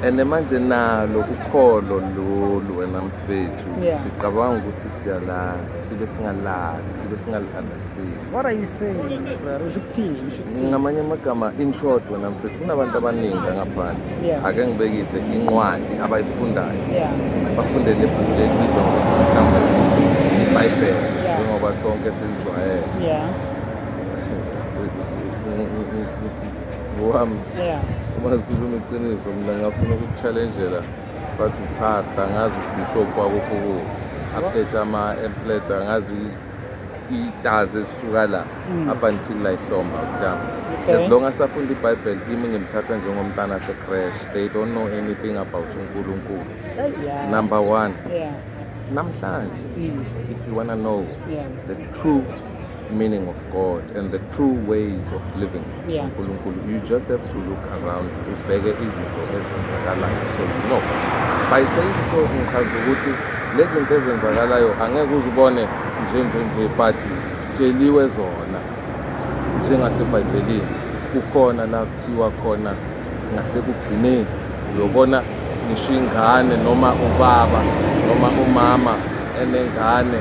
and manje nalo ukholo lolu wena mfethu yeah. sicabanga ukuthi siyalazi sibe singalazi sibe singali-understand what are you saying usho ukuthini ngamanye amagama in short wena mfethu kunabantu abaningi angaphandle yeah. ake ngibekise incwadi abayifundayo yeah. bafundele ibhuku lelibizwa ngokuthi mhlawumbe ibhayibhele yeah. njengoba sonke silijwayele yeah. ngowami yeah uma zikhuluma iqiniso mina ngingafuna ukukuchallenjela but upasta ngazi ubishop kwakukho kuwo aphethe ama-emplet angazi itazi ezisuka la Mm. up until layihlomba utyama Okay. as long as afunda ibhayibheli kimi ngimthatha njengomntana asecrash they don't know anything about unkulunkulu Hey, yeah. number one Yeah. namhlanje Mm. if you wanna know Yeah. the true meaning of God and the true ways of living yeah. uNkulunkulu you just have to look around ubheke izinto ezenzakalayo so you know by saying so ngichaza ukuthi lezi zinto ezenzakalayo angeke uzibone nje nje nje but sitsheliwe zona njengasebhayibhelini kukhona la kuthiwa khona ngasekugcineni uyobona ngisho ingane noma ubaba noma umama enengane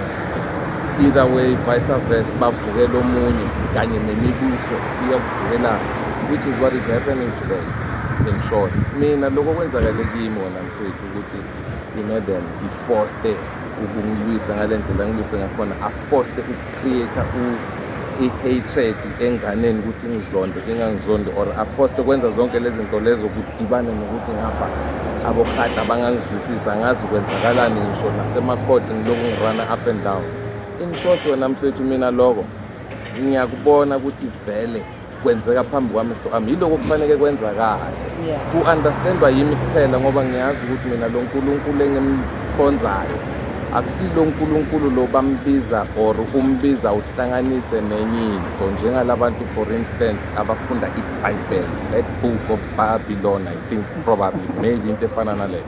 either way vice versa bavukela omunye kanye nemibuso iyakuvukelana which is what is happening today in short mina lokho kwenzakale kimi wona mfethu ukuthi imadam ifoste ukungilwisa ngale ndlela ngilwise ngakhona afoste create i-hatred enganeni ukuthi ingizonde ingangizondi or afoste kwenza zonke lezi zinto lezo kudibane nokuthi ngapha abohata bangangizwisisi angazi kwenzakalani ngisho nasemakhodi ngiloku ngirana up and down in short wena mfethu mina loko ngiyakubona ukuthi vele kwenzeka phambi kwamehlo ami yiloko kufaneke kwenzakale ku-understandwa yimi kuphela ngoba ngiyazi ukuthi mina lo nkulunkulu engimkhonzayo akusilo nkulunkulu lo bambiza or umbiza uhlanganise nenye into njengalabantu for instance abafunda ibhayibheli that book of babylon i think probably maybe into efana naleyo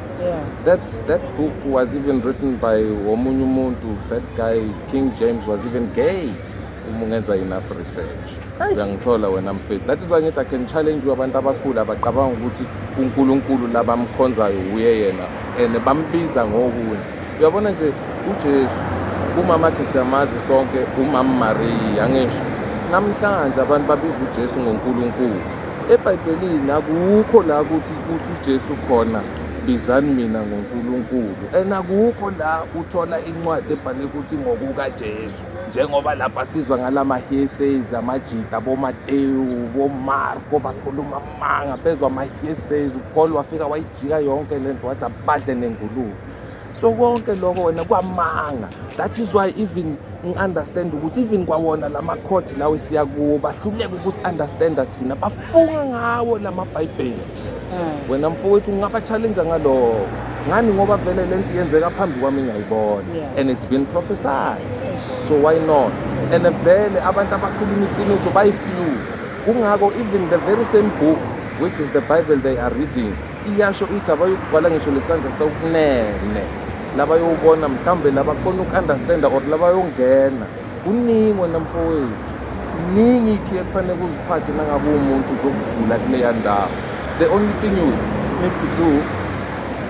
that, that book was even written by omunye umuntu that guy king james was even gay uma ungenza enough research uyangithola wena mfethu that is why ngithi i can challenge you abantu abakhulu abacabanga ukuthi unkulunkulu labamkhonzayo wuye yena and bambiza ngokunye uyabona nje ujesu umama khe siyamazi sonke umama mariya angisho namhlanje abantu babiza ujesu ngonkulunkulu ebhayibhelini akukho la ukuthi kuthi ujesu khona bizani mina ngonkulunkulu and akukho la uthola incwadi ebhale ukuthi ngokukajesu njengoba lapha sizwa ngalama-hearsays amajita bomatewu bomarko bakhuluma amanga bezwa ama-hearsays upaul wafika wayijika yonke le nto wathi abadle nengulube so konke lokho wena kwamanga that is why even ngi-understand ukuthi even kwawona la makhodi lawo esiya kuwo bahluleka ukusi-understanda thina bafunga ngawo la mabhayibheli hmm. wena mfowethu ngingabachallenja ngaloko ngani ngoba vele le nto yenzeka phambi kwami ngiyayibona and it's been prophesized so why not and vele abantu abakhuluma iqiniso bayifew kungako even the very same book which is the bible they are reading iyasho ithi abayokugcwala ngisho lesandla sokunene labayowubona mhlawumbe labakhona uku-understanda or labayongena Kuningi wena mfowethu, siningi ikhi ekufanele kuziphathe nangabe umuntu uzokuvula kuleya ndawo. The only thing you need to do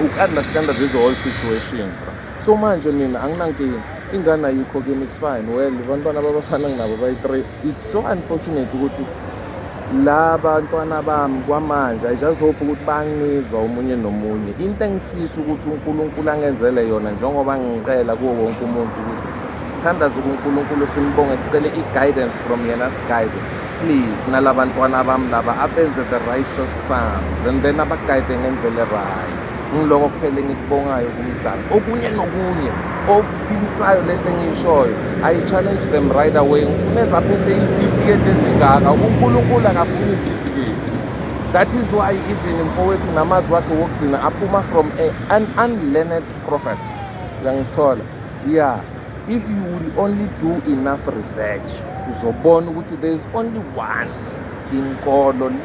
uku-understanda this whole situation. So manje mina anginankinga, ingane ayikho kimi, it's fine. Well, abantwana babafana nginabo bayi-three. It's so unfortunate ukuthi la bantwana bami kwamanje i just hope ukuthi bangizwa omunye nomunye into engifisa ukuthi unkulunkulu angenzele yona njengoba ngiqela kuwo wonke umuntu ukuthi sithandaze kuNkulunkulu simbonge sicele i-guidance from yena siguide please nalabantwana bami laba abenze the righteous sons and then abaguide ngendlela right ngiloko kuphela engikubongayo kumdala okunye nokunye okuphilisayo le nto engiyishoyo i challenge them right away ngifuna ezaphethe izitifiketi ezingaka unkulunkulu akafuni izitifiketi that is why even mfowethu namazwi wakhe wokugcina aphuma from a, an unlearned prophet uyangithola yeah if you will only do enough research uzobona ukuthi there is only one inkolo le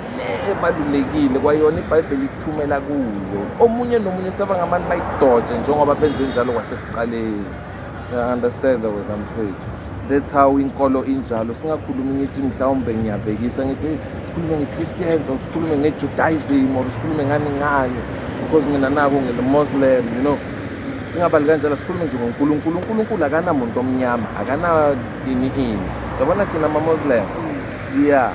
ebalulekile kwayona ibhayibheli ikuthumela kuyo omunye nomunye sebangabantu bayidoje njengoba benze njalo kwasekuqaleni understand wena mfethu that's how inkolo injalo singakhulumi ngithi mhlawumbe ngiyabhekisa ngithi hey sikhulume nge-christians or sikhulume nge-judaism or sikhulume ngani ngani because mina naku ngile-muslim you know singabali kanjalo sikhulume nje ngonkulunkulu unkulunkulu akanamuntu omnyama akana ini ini yabona thina mamoslem ya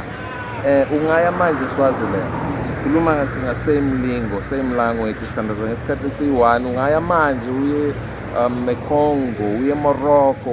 eh ungaya manje swaziland sikhuluma singa same lingo same language sithandaza ngesikhathi esiyi-one ungaya manje uye um econgo uye emorocco